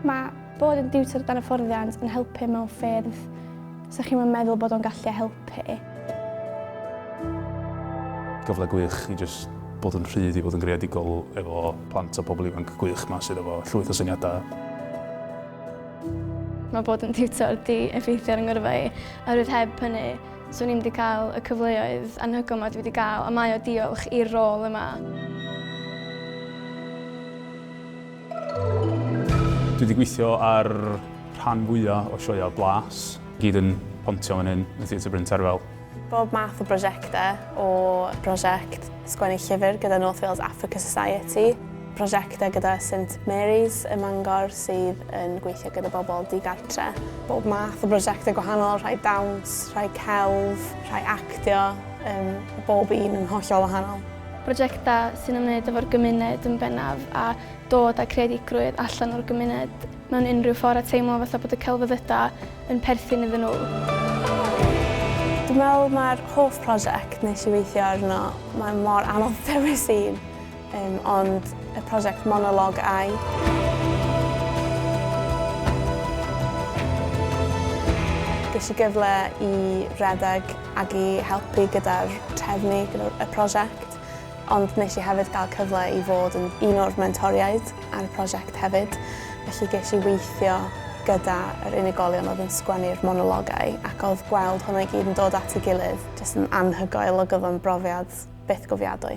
Mae bod yn diwtor dan hyfforddiant yn helpu mewn ffyrdd sy'ch chi'n yn meddwl bod o'n gallu helpu. Gyfle gwych i jyst bod yn rhydd i fod yn greadigol efo plant a pobl ifanc gwych ma sydd efo llwyth o syniadau. Mae bod yn diwtor di effeithio ar 'y ngyrfa i oherwydd heb hynny So ni'm wedi cael y cyfleoedd anhygoel yma dwi wedi cael, a mae o diolch i'r rôl yma. Dwi wedi gweithio ar rhan fwyaf o sioeau blas. Gyd yn pontio fan hyn yn Theatr Bryn Terfel. Bob math o brosiectau, o brosiect sgwennu llyfr gyda North Wales Africa Society, Prosiectau gyda Saint Mary's ym Mangor sydd yn gweithio gyda bobl digartre. Bob math o brosiectau gwahanol, rhai dawns, rhai celf, rhai actio, um, bob un yn hollol wahanol. Prosiectau sy'n ymwneud efo'r gymuned yn bennaf a dod â creadigrwydd allan o'r gymuned mewn unrhyw ffordd a teimlo fatha bod y celfyddydau yn perthyn iddyn nhw. Dwi'n meddwl mae'r hoff prosiect nes i weithio arno, mae mor anodd dewis un. Dim ond y prosiect Monolog ai? Ges i gyfle i redeg ac i helpu gyda'r trefnu y prosiect, ond nes i hefyd gael cyfle i fod yn un o'r mentoriaid ar y prosiect hefyd, felly ges i weithio gyda yr unigolion oedd yn sgwennu'r monologau ac oedd gweld hwnna i gyd yn dod at ei gilydd jyst yn anhygoel ac oedd o'n brofiad byth gofiadwy.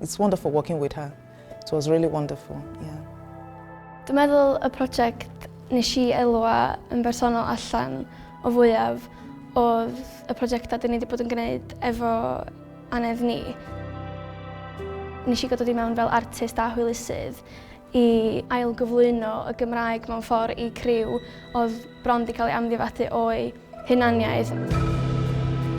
It's wonderful working with her. It was really wonderful, yeah. Dwi'n meddwl y prosiect nes i elwa yn bersonol allan o fwyaf oedd y prosiectau dyn ni wedi bod yn gwneud efo anedd ni. Nes i godod i mewn fel artist a hwylusydd i ailgyflwyno y Gymraeg mewn ffordd i criw oedd bron 'di cael ei amddifadu o'u hunaniaeth.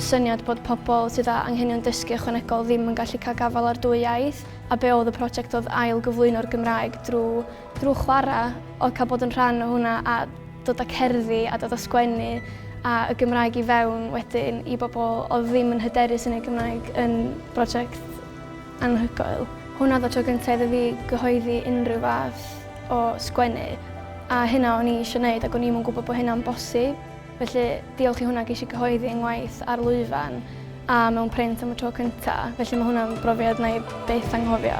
Syniad bod pobl sydd â anghenion dysgu ychwanegol ddim yn gallu cael gafael ar dwy iaith, a be oedd y prosiect oedd ailgyflwyno'r Gymraeg drwy drwy chwarae, oedd cael bod yn rhan o hwnna a dod â cerddi a dod â sgwennu a y Gymraeg i fewn wedyn i bobl oedd ddim yn hyderus yn eu Cymraeg yn brosiect Anhygoel. Hwn oedd y tro gynta' iddo fi gyhoeddi unrhyw fath o sgwennu, a hynna o'n i isio wneud ac o'n i'm yn gwybod bod hynna'n bosib. Felly, diolch i hwnna ges i gyhoeddi fy ngwaith ar lwyfan a mewn print am y tro cynta', felly mae hwnna'n brofiad wna i byth anghofio.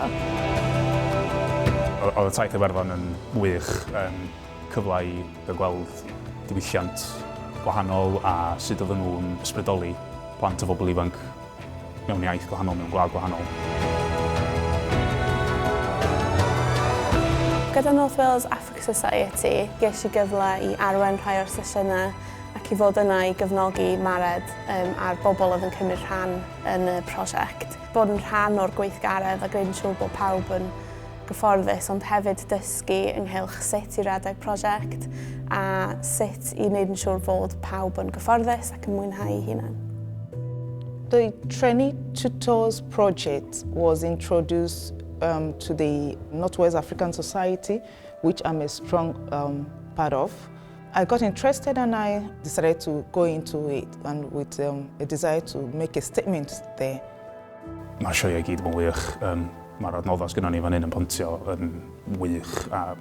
Oedd y taith Iwerddon yn wych, yn cyfle i gael gweld diwylliant gwahanol a sut oedden nhw'n ysbrydoli plant a phobl ifanc. Mewn iaith gwahanol, mewn gwlad gwahanol. Gyda North Wales Africa Society, ges i gyfle i arwain rhai o'r sesiynau ac i fod yna i gefnogi Mared a'r bobl oedd yn cymryd rhan yn y prosiect. Bod yn rhan o'r gweithgaredd a gwneud yn siŵr bod pawb yn gyfforddus ond hefyd dysgu ynghylch sut i redeg prosiect a sut i wneud yn siŵr fod pawb yn gyfforddus ac yn mwynhau ei hunan. The Trainee Tutors Project was introduced um, to the Northwest African Society, which I'm a strong um, part of. I got interested and I decided to go into it and with um, a desire to make a statement there. Mae sioeau gyd yn wych. Um, Mae'r adnoddau sgynnon ni fan hyn yn pontio yn wych a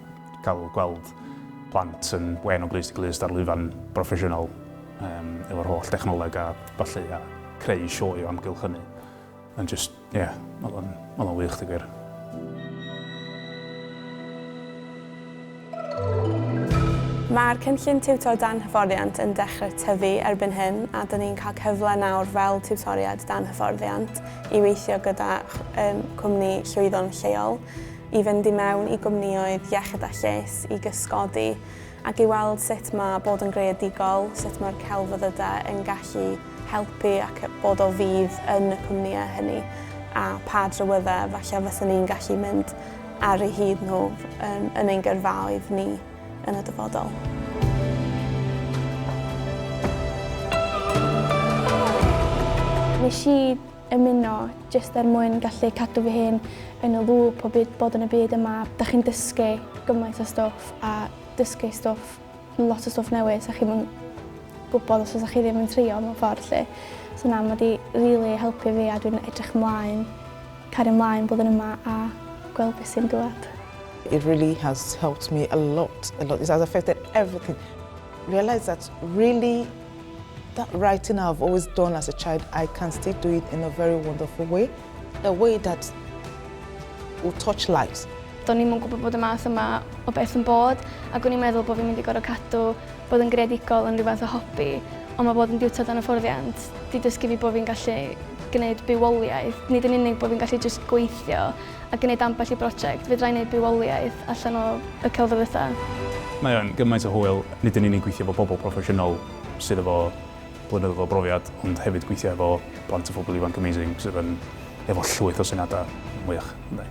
cael gweld plant yn wên o glust i glust ar lwyfan broffesiynol um, efo'r holl dechnoleg a falle a creu sioe o amgylch hynny. Yn just, ie, yeah, oedd o'n wych, di gwir. Mae'r cynllun Tiwtor Dan Hyfforddiant yn dechrau tyfu erbyn hyn a dyn ni'n cael cyfle nawr fel Tiwtoriaid Dan Hyfforddiant i weithio gyda chwmni llwyddo'n lleol, i fynd i mewn i gwmnïoedd iechyd a lles, i gysgodi ac i weld sut mae bod yn greadigol, sut mae'r celfyddydau yn gallu helpu ac bod o fudd yn y cwmnïau hynny a pha drywyddau falle fysen ni'n gallu mynd ar eu hyd nhw yn, yn ein gyrfaoedd ni yn y dyfodol. Nes i ymuno jyst er mwyn gallu cadw fy hun yn y lŵp o byd, bod yn y byd yma. Da chi'n dysgu gymaint o stwff a dysgu stwff Lot o stwff newydd 'sa chi'm yn gwbod os fysa chi ddim yn trio mewn ffordd 'lly. So na ma' 'di rili helpu fi a dwi'n edrych mlaen cario mlaen bod yn yma a gweld be' sy'n dŵad. It really has helped me a lot, a lot. It has affected everything. Realise that really that writing I've always done as a child, I can still do it in a very wonderful way. The way that will touch lives. Do'n i'm yn gwybod bod y math yma o beth yn bod ac o'n i'n meddwl bod fi'n mynd i gorfod cadw bod yn greadigol yn rhywbeth o hobi, ond mae bod yn diwtor dan hyfforddiant di dysgu fi bod fi'n gallu gwneud bywoliaeth. Nid yn unig bod fi'n gallu jyst gweithio a gwneud ambell i brosiect, fedra i wneud bywoliaeth allan o y celfyddydau. Mae o'n gymaint o hwyl nid yn unig gweithio efo pobl proffesiynol sydd efo blynyddoedd o brofiad ond hefyd gweithio efo plant a phobl ifanc amazing sydd yn efo llwyth o syniadau mwych yndi.